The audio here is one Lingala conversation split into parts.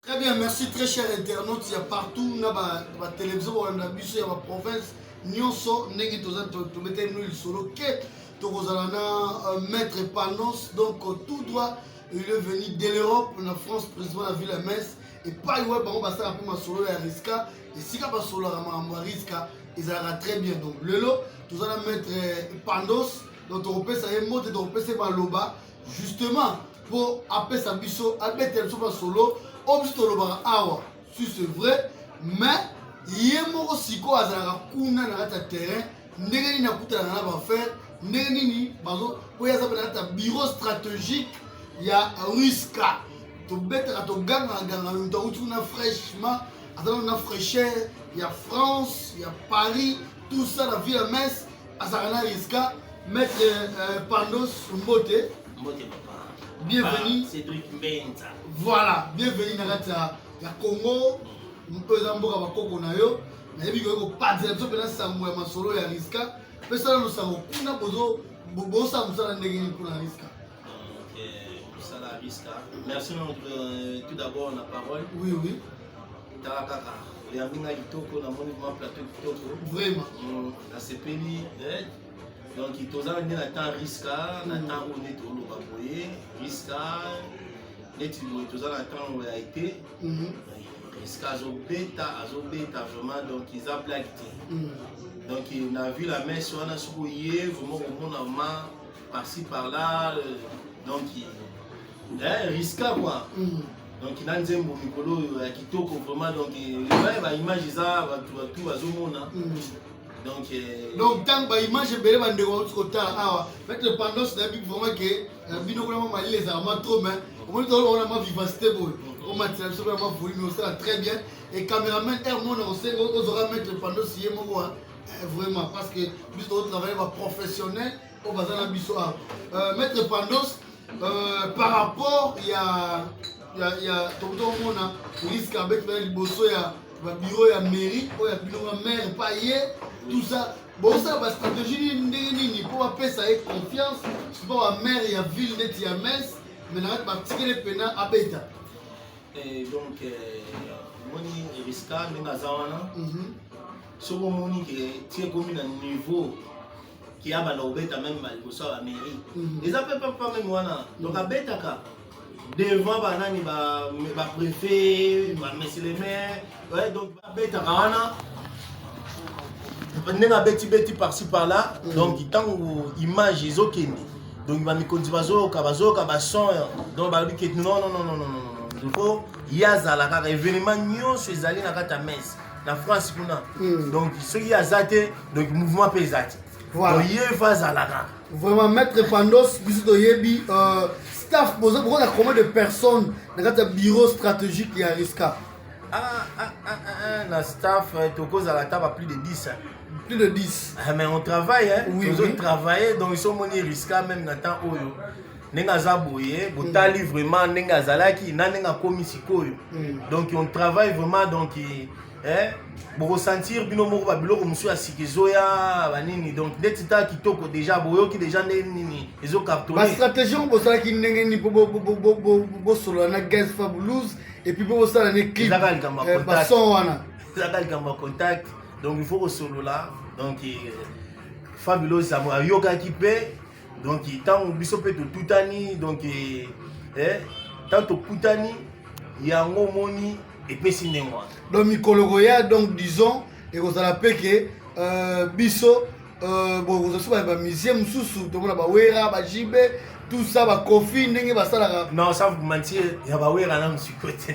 Très bien, merci très cher internaute, il y a partout na ba, ba télévision ba na biso ya ba province nyonso ndenge toza tobeta bino lisolo ke tokozala na euh, maître Panos donc euh, tout droit il est venu de l'Europe na France président la ville ya Metz epai wapi bango basala mpe masolo ya riska esika basololaka makambo ya riska ezalaka très bien donc lelo toza na maître euh, Panos donc tokopesa ye mbote tokopesa ye maloba justement mpo apesa biso abetela biso masolo oyo biso tolobaka awa si c'est vrai mais ye moko sikoyo azalaka kuna na kati ya terrain ndenge nini akutanaka na bafere ndenge nini bazo oyo aza mpe na kati ya bureau stratégique ya ruska tobetaka togangaka ganga luta uti kuna fraîchement azalaka na fraîcheur ya france ya paris tout ça na ville ya messe azalaka na riska maître euh, pandos mbote mbote papa bienvenue cédric mbenza voilà bienvenue na kati ya congo mpe eza mboka bakoko na yo nayebi koki kopanzela biso mpena sango ya masolo ya riska mpe sala losango kuna bozo bosala mosala ndenge nini mpona riska mosala ya biska merci euh, tout d'abord na parole oui oui tala kaka oyambi ngai kitoko namoni ma plateau kitoko vraiment mm, nasepeli eh. donc toza nde na temps riska na mm. temps oyo nde toloba boye riska neti boye toza na temps ya ete mhm. riska azobeta azobeta vraiment donc eza blague te mm. donc na vu la messe wana soki oye vraiment komona ma par-ci par-là euh, donc eh, riska quoi mm. donc na nzembo mikolo oyo ya kitoko vraiment donc ebaye baimage eza bato batu bazomona mm. donc euh, donc ntango baimage ebele bandeko bauti kotala awa peut dépendance na bibi vraiment ke euh, bino kuna ma malili ezalaka ma trop mais omoni tolona ma vivacité boye mm. omatisa biso kuna ma volume osala très bien et cameraman air mona osenga ozora mettre pendant siye moko vraiment parce que biso tozotravaille baprofessionnel oyo baza na biso awa euh, maître pandos euh, par rapport ya ya ya tokomona police kabeti bana liboso ya babiro ya mairie oyo ya bino ba maire pa ye tout ça bosala bastratégie nini ndenge nini mpo bapesa ye confiance sipo ba maire ya ville neti ya mes me na kati batikele mpena abeta eh, donc eh, omoni eriska ndenge aza wana mhm. soki omoni ke ti ekomi na niveau ki abanda kobeta meme ba liboso ya ba mairie mhm. eza mpe papa meme wana donc abetaka devant banani ba préfet ba monsieur le maire ouais, donc babetaka wana ndenge abetibeti parci par là mhm. donc ntango image ezokende donc bamikonzi bazoyoka bazoyoka bason donc balobi ke non non non non non faut ye azala kaka événement nyonso ezali na kati ya messe na france kuna mhm. donc soki aza te donc mouvement mpe eza te voilà. ye fa azalaka vraiment maître pandos biso toyebi euh, staff boza bokoza combien de personnes na kati ya bureau stratégique ya risca ah, ah, ah, ah, ah, na staff euh, tokozala ata ba plus de 10 hein. plus de 10 ah, mais on travaille hein. oui, tozo oui. travaille donc iso omoni risca même na temps oyo ndenge aza boye botali mm. vraiment ndenge azalaki na ndenge akomi sikoyo mm. donc on travaille vraiment donc et, eh? bokosentir bino moko babiloko mosusu ya sika ezoya banini donc ndeti ntango kitoko deja boyoki deja nde nini ezo cartonbastratégie yango bosalaki ndenge nini mpo bosolola na gaz fabulouse epuis mpo bosala ne clipezaka likambo ya eh, contact wana ezaka likambo ya contact donc il faut kosolola donc eh, fabulouse ayokaki mpe donc ntango biso mpe totutani donc eh, eh, ntango tokutani yango omoni epesi ndenge wana donc mikolo koya donc disons ekozala mpe ke euh, biso euh, bokozwa soki bamisie mosusu tomona bawera bajibe tout ça bakofi ndenge basalaka non sans vous mentir ya bawera nanu sikoyo te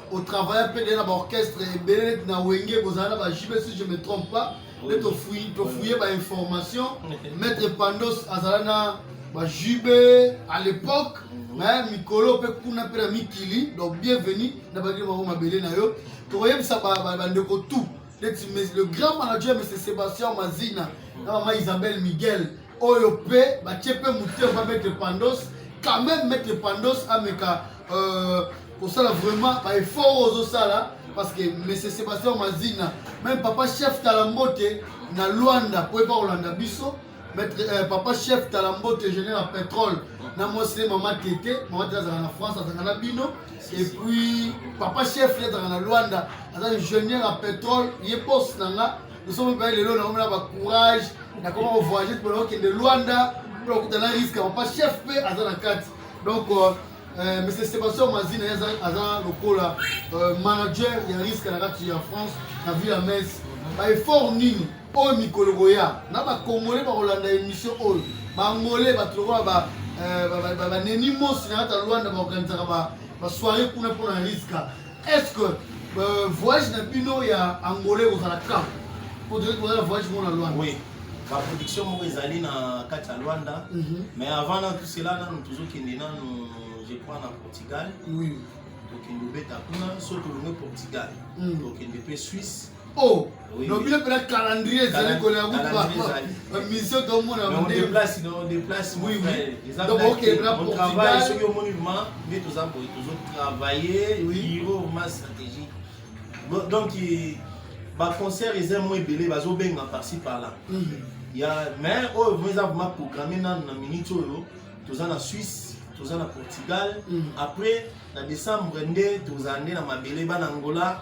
au travail pe na ba orchestre ebele na wenge bozala na ba JB si je me trompe pas nde tofuye tofuye ba information maître Pandos azala na ba JB à l'époque mhm. mais mikolo pe kuna pe na mikili donc bienvenue na ba bango mabele na yo tokoyebisa bandeko tout neti le grand manager monsieur Sébastien Mazina mhm. na mama Isabelle Miguel oyo pe batie pe motema ba maître Pandos quand même maître Pandos ameka euh, kosala vraiment ba effort oyo ozosala parce que monsieur sébastien mazina même papa chef talambote na luanda mpo epa kolanda biso maître euh, papa chef talambote ingénieur ya pétrole na mwasi mama tete mama tete azalaka na france azalaka na bino et puis papa chef ye azalaka na luanda aza ingénieur ya pétrole ye bos na nga nosombi mpe lelo nakomela bacourage nakoma kovoyage mpo nakokende luanda mpo nakutana riske papa chef mpe aza na kati Donc euh, euh Monsieur Sébastien Mazina aza lokola euh, manager ya risque na kati ya France na ville ya Metz. Ba effort nini oyo mikolo koya na ba congolais ba kolanda émission oyo ba ngolais ba lokola ba euh, ba neni mosi na kati ya Luanda ba organisaka ba ba soirée kuna pona risque Est-ce que euh, voyage na bino ya Angola ekozala quand Pour dire que vous avez voyage mon Luanda. Oui. La production moko ezali na kati ya Luanda. Mm -hmm. Mais avant dans tout cela nanu tozokende nanu je crois na Portugal. Oui. Tokende obeta kuna so tolongue Portugal. Mm. Tokende mpe Suisse. Oh, no bino pela calendrier ezali kolela kutubamission tomonaaokebela portugal soki omoni ma nde toza boye tozotravaille biro ma stratégie donc baconcert eza mo ebele bazobenga parci par là mhm. ya mais oyo vrima eza vrima programme nano na minute oyo toza na suisse toza na portugal mhm. après na décembre nde tozala nde na mabele bana angola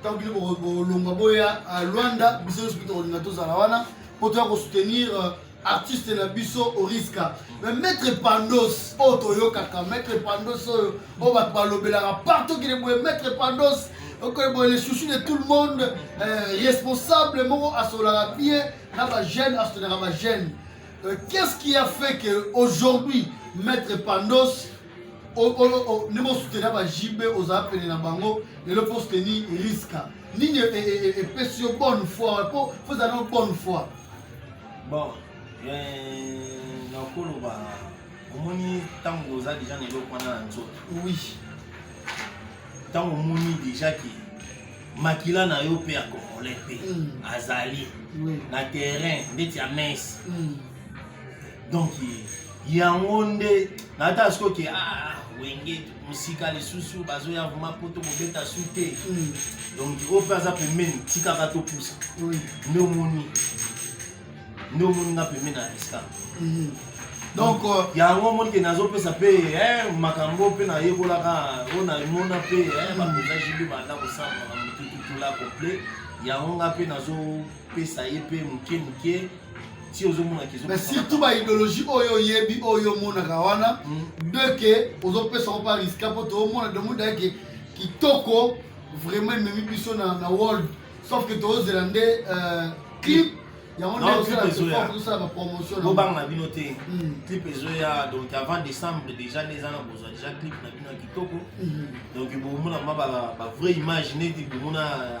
ntango bino bolongwa boya euh, luanda biso nyonso mpe tokolinga tozala wana mpo toya kosoutenir euh, artiste na biso oriska me maître pandos oyo oh, toyokaka maître pandos oyo oh, oyo oh, bato balobelaka partout kine boye maître pandos okoye boye le chouchou de tout le monde euh, responsable moko asolaka bien na bajeune asotenaka bajeune qu'est ce qui a fait que aujourd'hui maître pandos ndenge osutena ba jb ozala pene na bango lelo mpo osuteni riska nini epesi yo bonne foi mpo ozala na bonne foi bon nakoloba omoni ntango oza deja na eloko wana na nzoto oui ntango omoni deja ke makila na yo mpe ya congolais mpe hmm. azali na terrain ndeti ya mese hmm. donc yango nde nata siko ke ah, wenge mosika lisusu bazoya vrema poto kobeta su te hmm. donc oyo mpe aza pembeni tikaka topusa nde omoni nde omoni nga pembeni na riska hmm. donc euh, yango omoni ke nazopesa mpe eh, makambo mpe nayekolaka oyo namona mpe eh, bakonza jibi banda kosala makambo tututula complet yango nga mpe nazopesa ye mpe moke moke si ozomona kizo mais surtout ba idéologie oyo oyebi oyo omonaka wana hmm. de que ozopesa ko pa riska mpo toomona de muda ke kitoko vraiment ememi biso na, na world sauf que tozela nde euh, clip yango nde osala bapromotion bobanga na bino te hmm. clip ezoya donc avant décembre déjà nde eza na bozwa déjà clip na bino ya kitoko hmm. donc bomona ma bavrai image neti bomona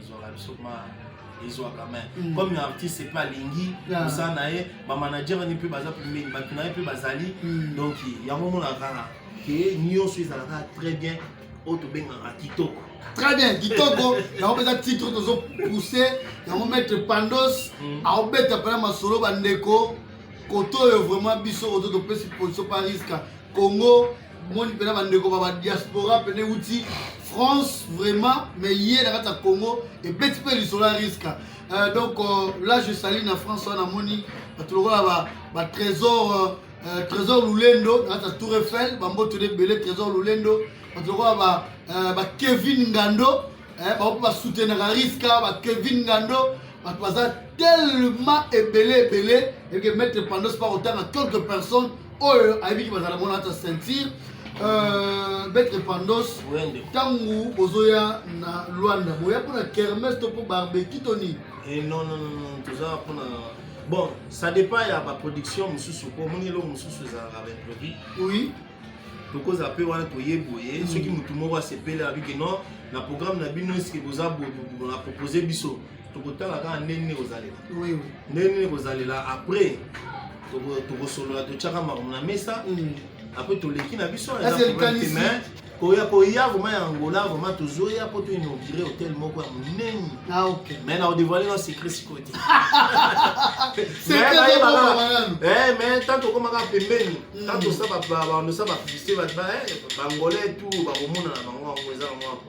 ezwaka biso ma ezwaka main mm. comme artiste mpe alingi oza na ye bamanager wani mpe baza pembeni bato na ye mpe bazali mm. donc yango omonaka kaka ke nyonso ezalaka très bien oyo tobengaka kitoko très bien kitoko yango mpenza titre tozo pousse yango maître pandos mm. aobeta mpena masolo bandeko koto oyo vraiment biso ozo topesi position pariska Congo moni mpena bandeko ba badiaspora mpena euti France vraiment mais ye na kati ya Congo ebeti mpe lisolo ya riska euh, donc euh, là je sali na France wana namoni bato lokola ba, ba trésor euh, euh, trésor lulendo na kati ya tour eiffel bamboto ebele trésor lulendo bato lokola ba, euh, ba kevin ngando eh, bango mpe basoutenaka riska ba kevin ngando bato baza tellement ebele ebele eke maître pandos pa kotanga quelques personnes oyo ayebiki bazala mona ata ceinture euh, betre pandos ntango bozoya na lwanda boya mpona kermes to mpo barbeki to nini eh, non non non toza mpona bon ça dépend ya baproduction mosusu mpo omoni eloko mosusu ezalaka baimprovis oui tokoza mpe wana toye boye mm. soki motu moko asepeli abiki non na programme na bino eske boza boye na propose biso tokotala kaka ndenge nini kozalela ndenge nini kozalela après tokosolola totyaka makambo na mesa mm. après toleki na biso koya koya vraimen ya angola vraimen tozoya mpo to inaugure hotel moko ya monene ah, mai na odevoile na secret sikoyo te mai ntango tokomaka pembeni ntango tosa baandosa bapublicité bangolais tu bakomonana bango yango eza bango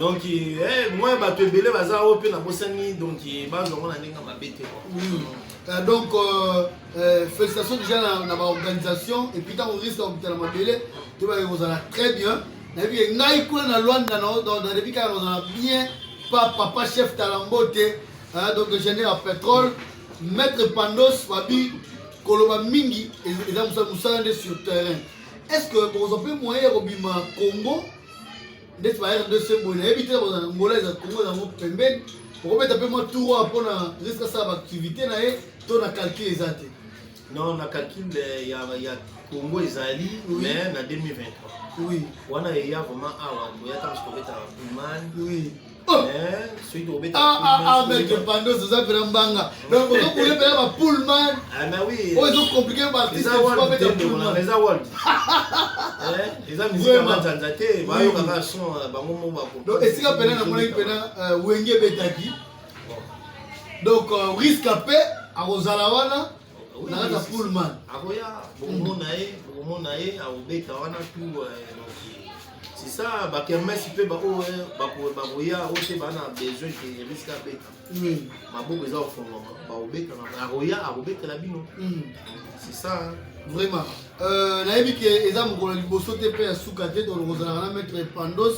donc eh, moi bato ebele baza oyo mpe nabosani donc eh, bazwa ngo na ndenge mabe te hmm. euh, donc euh, euh, félicitation déjà na, na baorganisation epuis ntango risque ya kobitala mabele toyebaki kozala très bien nayebi ye ngai kuna na lwanda nayebi kaka kozala bien pa papa chef talambo te donc génère ya pétrole maître pandos babi koloba mingi eza mosala nde sur terrain est ce que bokozwa mpe moyen ya kobima congo ndeti ba rdc boye nayebi te kozala na ngola eza kongo ezango pembeni okobeta mpe mwa tour wana mpo na risque asala baactivité na ye to na calcul eza te non na calcul eh, ya, ya congo ezali oui. mais na 2023 oui. wana eya vraiment awa toyaka mosu kobeta puman oui. Oh. Eh, ah, ah, ah, mec pandos oza mpena mbanga donc ozo boule mpena ba pullman oyo ezo compliqué baartiste eza pullman eza world eh, eza mizika manzanza te bayoka kaka son euh, bango mo bako donc esika mpena namonaki mpena euh, wenge ebetaki donc euh, risque ape akozala wana naza pullman akoya bokomona ye bokomona ye akobeta wana tu c'est ça bakermesi mpe baoyo bakoya oyo mpe baa na besoin ke risque abeta maboko eza kofongama bakobetana akoya akobetela bino c'est ça vraiment euh, nayebi ke eza mokolo ya liboso te mpe ya suka te tolokozalaka na maître pandos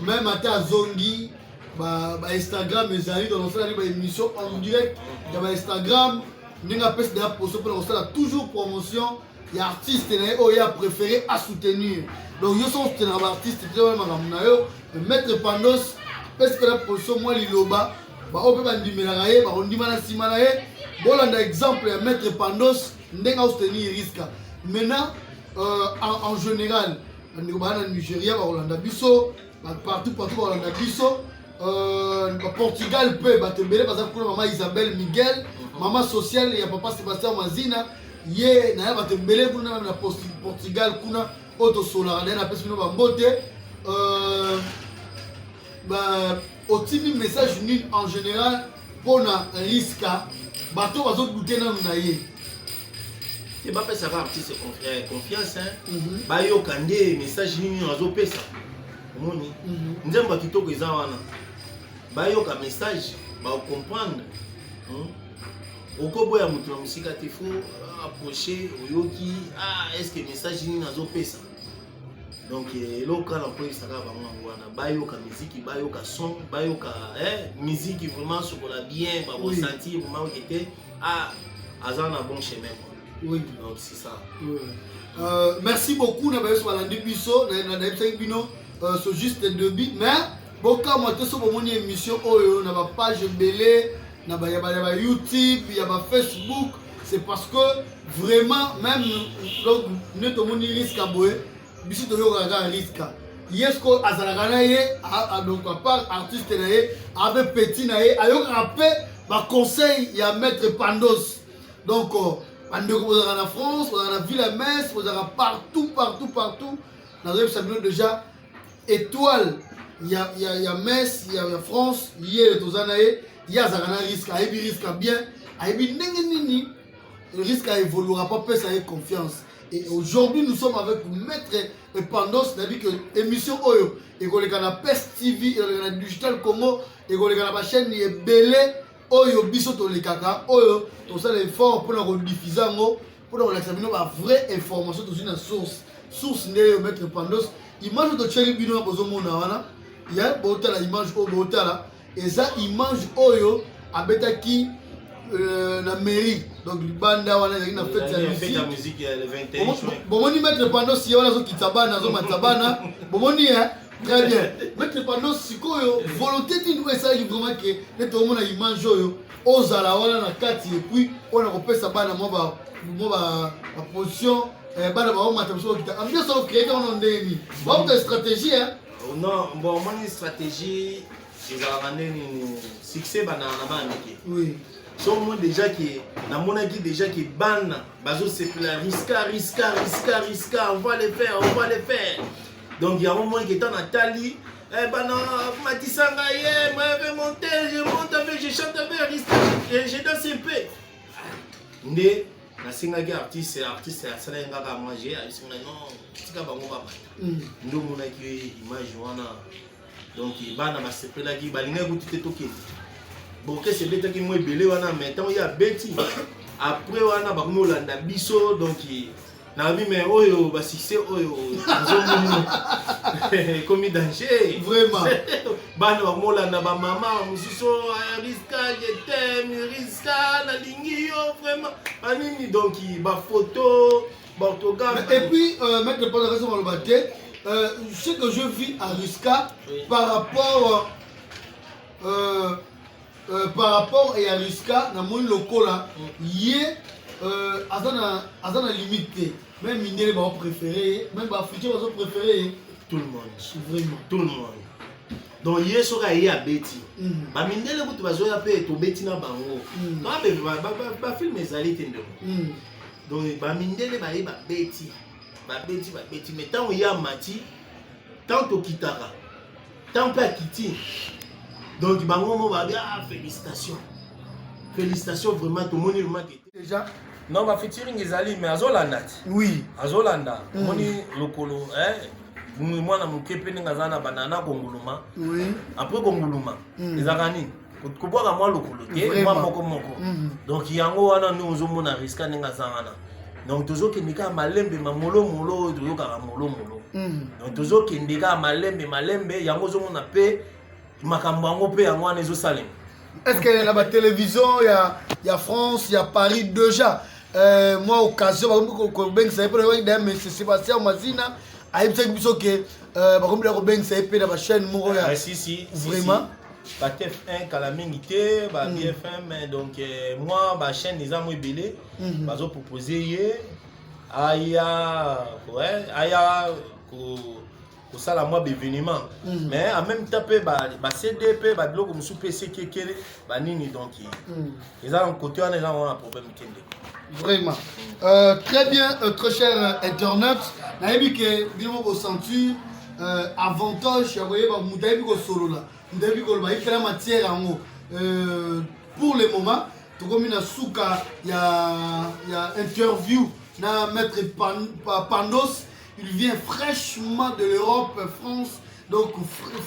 même ata azongi ba ba Instagram ezali donc osala ba émission en direct ya ba Instagram ndenge apesi na ya poso mpona kosala toujours promotion ya artiste na ye oyo ye apréféré a soutenir donc yo soki osutenaka ba artiste te wana makambo na yo maître pandos apesi mpe na poso mwa liloba baoyo mpe bandimelaka ye bakondima na nsima na ye bolanda exemple ya maître pandos ndenge aosutenir riska maintenant euh, en, en général bandeko baa na nigeria bakolanda biso partout partout balanda biso euh, portugal mpe bato ebele baza kuna mama isabelle miguel mhm. mama sociale ya papa sébastien mazina ye naye bato ebele kuna meme na portugal kuna oyo tosolaka naye napesi bino bambote euh, otimi message nini en général mpo na riska bato bazo dute nanu na ye te bapesaka artiste eh, confiance mhm. bayoka nde message nini azopesa omoni mhm. nzembo ya kitoko eza wana bayoka message baocomprendre hmm? okoboya moto na mosika te fo approche oyoki ah, estce message nini azopesa donc eh, eloko kaka nakoyebisa kaka bango yango wana bayoka miziki bayoka son bayoka eh, miziki vraiment sokola bien bakosentir vraiment oke te ah aza na bon chemin oui donc c'est ça oui. Euh, merci beaucoup na bayoso balandi biso nayebisaki bino euh, so juste debut mais bokamwa te so bomoni émission oyo na bapage ebele na ba ya ba ya ba YouTube ya ba Facebook c'est parce que vraiment même donc ne to moni risque boye biso to yo kaka risque yesko azalaka na ye donc à part artiste na ye abe petit na ye ayokaka pe ba conseil ya maître Pandos donc euh, bandeko bozalaka na France bozalaka na ville ya Metz bozalaka partout partout partout nazoyebisa bino déjà Etoile ya ya ya Metz ya, ya France ye toza na ye ye azalaka na risque ayebi risque ya bien ayebi ndenge nini risque a évoluera pas pesa ye confiance et aujourd'hui nous sommes avec maître Epandos na dit que émission oyo ekoleka na PES TV ekoleka na Digital Congo ekoleka na ba chaîne ebele oyo biso tolekaka oyo tosala effort mpona kodiffusa yango mpo na kolakisa bino ba vrai information tozwi na source source nde yo maître pandos image oyo totyeli bino wana bozomona wana ya botala image oyo botala eza image oyo abetaki euh, na mairie donc libanda wana ezalaki na fete ya musique bomoni maître pandos ye wana azokitisa bana azomatisa bana bomoni eh? très bien maître pandos sikoyo volonté nini oyo esalaki vraiment ke nete omona image oyo ozala wana na kati epuis oyo na kopesa bana mwa baposition eh, bana baomata mosu okita ambiance okrete wana ndenge nini baokuta stratégie eh? oh, non bon omoni stratégie ezalaka nde nini succès bandaka na bana mike so omoni déjà ke namonaki déjà ke bana bazosepela riska riska riska riska on va le faire on va le faire donc yango omoni ke ntango natali Eh ben non, matisa ngai, eh, moi avec mon tel, je monte avec, je chante avec, Aristide, je danse un peu. Nde nasengaki artiste artiste asalaki nga kaka mange abisinga non tika bango babata mm. nde omonaki image wana donc bana basepelaki balingaki kutu te tokende borkese ebetaki mwa ebele wana mai ntango ye abeti après wana bakomi kolanda biso donc Na bi mais oyo ba succès oyo nzomu ekomi danger. Vraiment. Bana ba molanda ba mama mususu ah, Rizka je t'aime Rizka na lingi yo vraiment. Anini donc ba photo ba orthographe. Et puis euh, maître Panda raison on va dire euh, ce que je vis à Rizka oui. par rapport euh, Euh, par rapport ya Riska na moni lokola ye euh, aza na aza na limite te. Même mindele ba préféré, même ba africain ba préféré tout le monde. Vraiment. Tout le monde. donc ye soki aye abeti mm. bamindele kutu bazoya mpe tobeti na bango mm. bafilme ezali te ndeko mm. donc bamindele baye babeti babeti babeti mai ntango ye amati ntango tokitaka Tant pe akiti. Donc bango mo ba bien ah, félicitations. Félicitations vraiment tout le monde vraiment déjà non ba featuring ezali mais azolanda ti oui azolanda mm. moni lokolo eh mwana moke mpe ndenge aza na banana konguluma oui. apres konguluma mm. ezalaka nini kobwaka mwa lokolo te mwa moko moko mhm. donc yango wana nde ozomona riska ndenge aza wana donc tozokende kaka malembe mamolomolo oyo toyokaka molomolo mhm. donc tozokende kaka malembe malembe yango ozomona mpe makambo yango mpe yango wana ezosalema est ce que na batelevizio ya, ya france ya paris déjà euh, mwa occasion bakomi kobengisa ye mpo na yokaki daya mese sébastien mazina ayebisaki biso ke euh, bakomi da kobengisa ye mpe na bachaîne moko ya ah, vraiment ba TF1 kala mingi te ba mm. BFM donc euh, moi ba chaîne eza mo ebele mm-hmm. bazo proposer ye aya ouais aya ko kosala mwa baévénement mm. mais en même temps mpe basede mpe babiloko mosusu mpe esekekele banini donc mm. eza na kote wana eza wana problème te ndeko vraiment euh, très bien euh, très cher euh, internet nayebi ke bino mokosentir euh, avantage ya koyeba moto ayebi kosolola moto ayebi koloba ayikela matière yango euh, pour le moment tokomi na suka ya, ya interview na maître Pan, pandos il vient fraîchement de l'europe france donc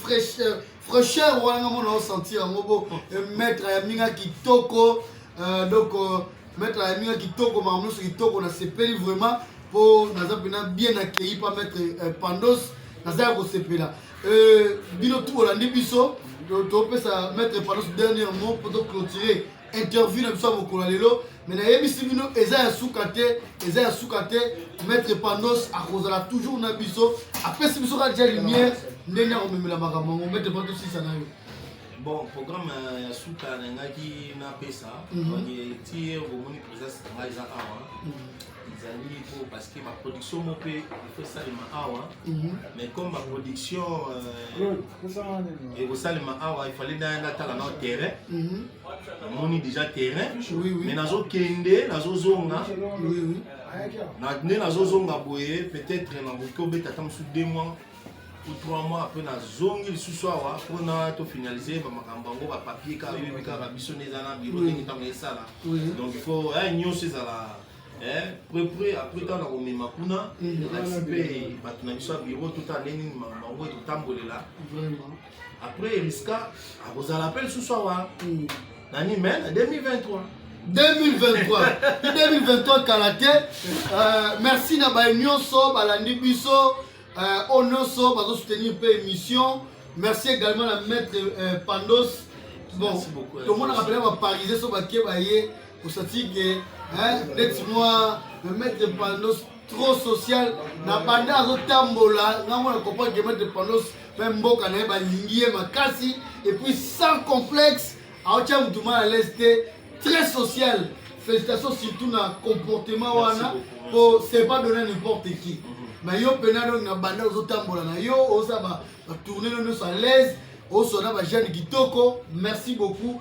fraîche Fraîcheur wana nga mona o sentir yango bo eh, maître ya minga kitoko euh, donc euh, maître ya minga kitoko makambo nyonso kitoko nasepeli vraiment mpo naza mpena bien accueilli pa maître euh, pandos naza ya kosepela bino tu bolandi biso topesa maître pandos dernier mot mpo toclotire interview na biso ya mokolo ya lelo me nayebisi bino eza ya suka te eza ya suka te maître pandos akozala toujours na biso apesi biso kaka ja lumière ndenge akomemela makambo yango maître pandos sisa na yo bon programme euh, ya suka nalingaki napesa mhm. ti okomoni présence na ngai eza awa mhm. ezali po parce que baproduction mo mpe efo esalema awa mhm. mais comme baproduction euh, ekosalema awa efali naya natala nao terrain mhm. namoni déjà terrain mais nazokende nazozonga nde nazozonga boye peut-être nakoki kobeta ata mosusu deux mois ou trois mois après nazongi lisusu awa mpona tofinalize bamakambo yango bapapie kaka yoyebi kaka biso nde eza na biro ndenge ntango esala donc il faut eh, nyonso ezala Eh, pre pre après ntango nakomema kuna nalakisi mpe bato na biso ya biro totala ndenge nini bango etotambolela après eriska akozala mpe lisusu awa hmm. nani mai na 2023 2023 2023 kala te euh, merci na baye nyonso balandi biso euh, oyo nyonso bazosoutenir mpe émission merci également na maître euh, pandos bon tomonaka mpena baparise so bake baye osatike ndeti mwa maître pandos trop social na banda azotambola nga mwana comprendre que maître pandos mpe mboka na ye balingi ye makasi epuis sans complexe aotya motu mal à l'aise te très social félicitation surtout na comportement wana mpo c'est pas donné n'importe qui na yo mpena donc na banda ozotambola na yo oza batourne no nyonso à l'aise osona bajane kitoko merci beaucoup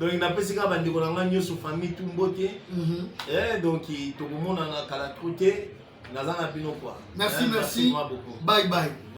donc napesi kaka bandeko na ngai nyonso famille tu mbote mhm. eh, donc tokomonana kala tro te naza na bino kua merci eh, merci bye bye